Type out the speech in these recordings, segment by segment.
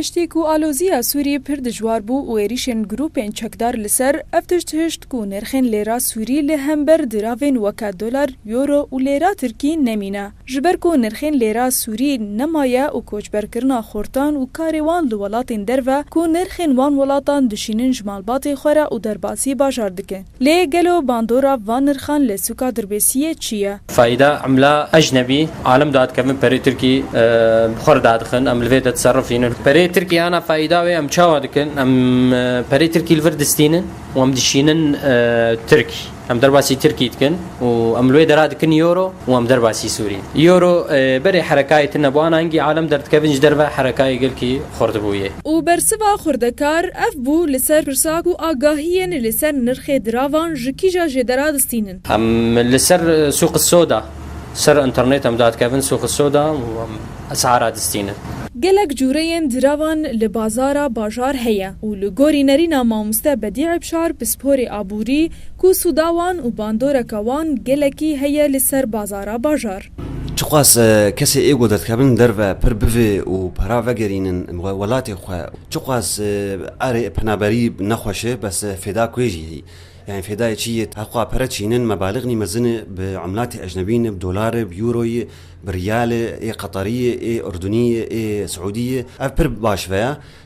Piştî ku aloziya Sûrî pir dijwar bû û êrîşên grûpên çekdar li ser ev tişt hişt ku nirxên lêra Sûrî li hember diravên weke dolar, euro û lêra Tirkî nemîne. Ji ber ku nirxên lêra Sûrî nemaye û koçberkirina xortan û karê wan li welatên derve ku nirxên wan welatan dişînin ji malbatê xwe re û derbasî bajar dikin. Lê gelo bandora van nirxan li sûka Dirbêsiyê çi ye? Faîda emla ecnebî, alim dadikevin perê tirkî bi xwe re dadixin, em li vê de tiserifînin. Perê tirkî ana faîda wê em çawa dikin? Em perê tirkî li vir distînin û em dişînin tirk, em derbasî tirkî dikin. û em li wê dera dikin Euro û em derbasî Sûriyê. Euro berê herekayê tune bû, an engî alem derdikevin ji derve herekayê gelkî xwerdibûyê. Û bersiva xwerdekar ev bû li ser pirsa ku agahiyên li ser nirxê diravan ji kîja jê dera distînin. Em li ser sûqi soda, ser înternêt em dadikevin sûqi soda û em esara distînin. Gelek cureyên diravan li bazara bajar heye û li gorî nerîna mamoste Bedî Ebşar pisporê aborî Ku sûda wan û bandoreka wan gelekî heye li ser bazara bajar. Çiqas kesê êgo derdkevin derve pir bivê û para vegerînin welatê xwe, çiqas erê penaberî ne xweş e bes fêda kuê jî hî. Yanî fêdayê çî yê? Heqûqa pere çînin mebalîx nî mezin e bi umlatê ecnebî ne bi dolar e, bi euro ye, bi riyal e, ê qeterî ye, ê urdunî ye, ê siûdî ye. Ev pir baş veya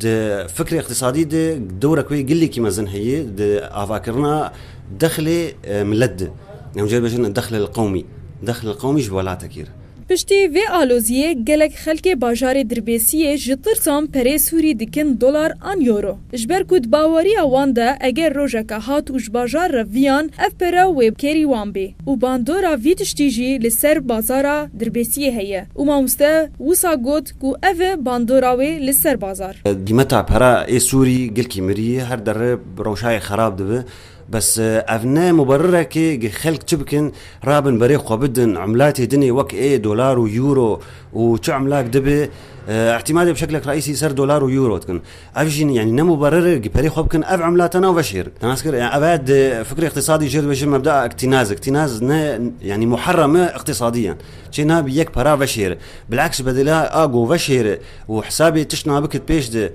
Di fikrê îqtîsadî de dewra ku yê gelekî mezin heye di avakirina dexlê milet de. Hemû carî bêjin dexlel qewmî. Dexlel qewmî ji welatekî re. Piştî vê aloziyê gelek xelkê bajarê Dirbêsiyê ji tirsan perê Sûrî dikin dolar an euro. Ji ber ku di bawariya wan de eger rojeke hat û ji bajar re viyan ev pere wê kêrî wan bê û bandora vî tiştî jî li ser bazara Dirbêsiyê heye û mamoste wisa got, Ku ev e bandora wê li ser bazar. Qîmeta pera ê sûrî gilkî mirî ye, her derre bi rewşayê xerab dibe. Bes ev ne muberirek e ke xelk çi bikin, rabin berê xwe bidin emlatê din ê wek ê dolar û euro û çi emlak dibe, îtîmadê bi şeklek reîsî ser dolar û euro dikin. Ev jî yanî ne muberir e, perê xwe bikin ev emla tena veş hêr in. Te nas kir? Ev e di fikrê îqtîsadî jê re dibêjin mebdaa îqtînaz. Îqtînaz ne yanî muherem e îqtîsadî yan. Çê nabî yek para veş hêr e. Bil'aks ji bedîla a ku veş hêr e û hesabê tişt nabî kit pêş de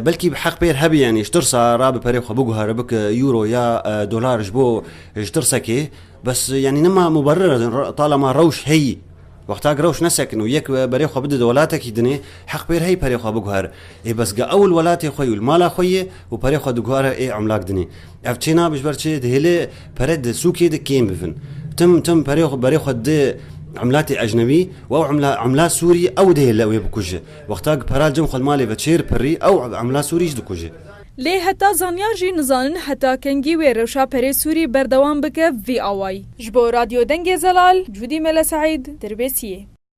belkî bi heq pêr hebî yanî ji tirsa ra bi perê xwe biguhere bike euro ya dolar ji bo ji tirsekê bes yanî nema muberir e tala ma rewş heyî. Wexta gi rewş nesekin û yek berê xwe bide di welatekî dinê, heq pêr heyî perê xwe biguher. Ê bes ga ew li welatê xwe yî û li mala xwe yê û perê xwe diguhere ê emlak dinê. Ev çê nabe ji ber çi? Dihêle pere di sûkê de kêm bibin. Tim tim perê xwe berê xwe di emlatê ecnebî û ew emla emla sûrî ew dihêle wê bikuje. Wexta gi pera cem xwe li malê ve çêr pirrî ew emla sûrî jî dikuje. Lê heta zanyar jî nizanin heta kengî wê rewşa perê sûrî berdewam bike vî awayî. Ji bo Radyo Dengê Zelal, Cûdî Mele Seîd, Dirbêsiyê.